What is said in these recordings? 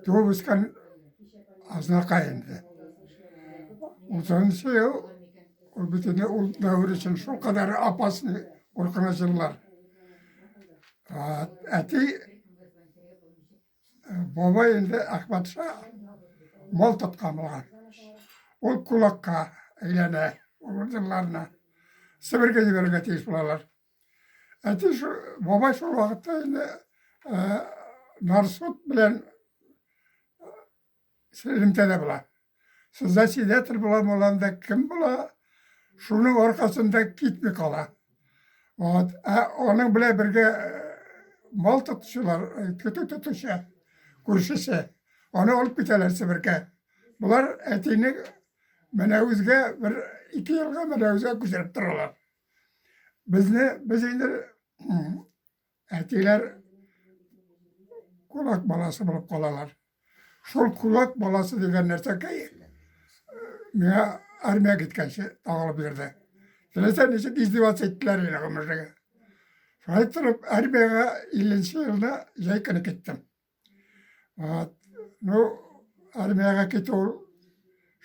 туып үскән Азнакай инде. Утызынчы ел ул бит инде ул дәвер өчен шулкадәр апасын куркыныч еллар. Әти бабай инде Әхмәтша мал тоткан булган. Ул кулакка әйләнә, ул елларны Себергә җибәрергә тиеш булалар. Әти шул, бабай шул вакытта инде ә, Нарсут белән элемтәдә була. Сездә сидәтер була, буланда кем була, шуның аркасында китми кала. Вот. Ә аның белән бергә мал тотучылар, көтү тотучы, күршесе. Аны алып китәләр Себеркә. Болар әтине Мәнәвезгә бер ике елга Мәнәвезгә күчереп торалар. Безне, без инде әтиләр кулак баласы булып калалар. Шул кулак баласы дигән нәрсәкәй миңа армия киткәнче тагылып йөрде. Теләсә ничек издеваться иттеләр инде гомерлеге. Шулай торып, армияга 50 елда җәй көне киттем. Вот. Ну, армияга китү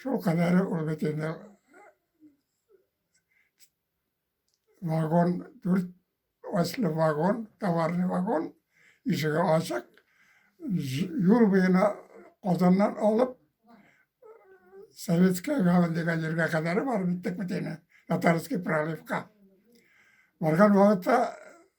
шул кадәр ул бит инде вагон, дүрт ослы вагон, товарный вагон, ишеге ачык, юл буена Казаннан алып, Советская гавань дигән җиргә кадәр барып җиттек бит инде, Татарский проливка. Барган вакытта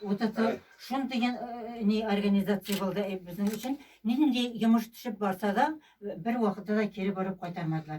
Вот это шун дигән ни организация булды безнең өчен. Нинди йомыш төшеп барса да, бер вакытта да кире борып кайтармадылар.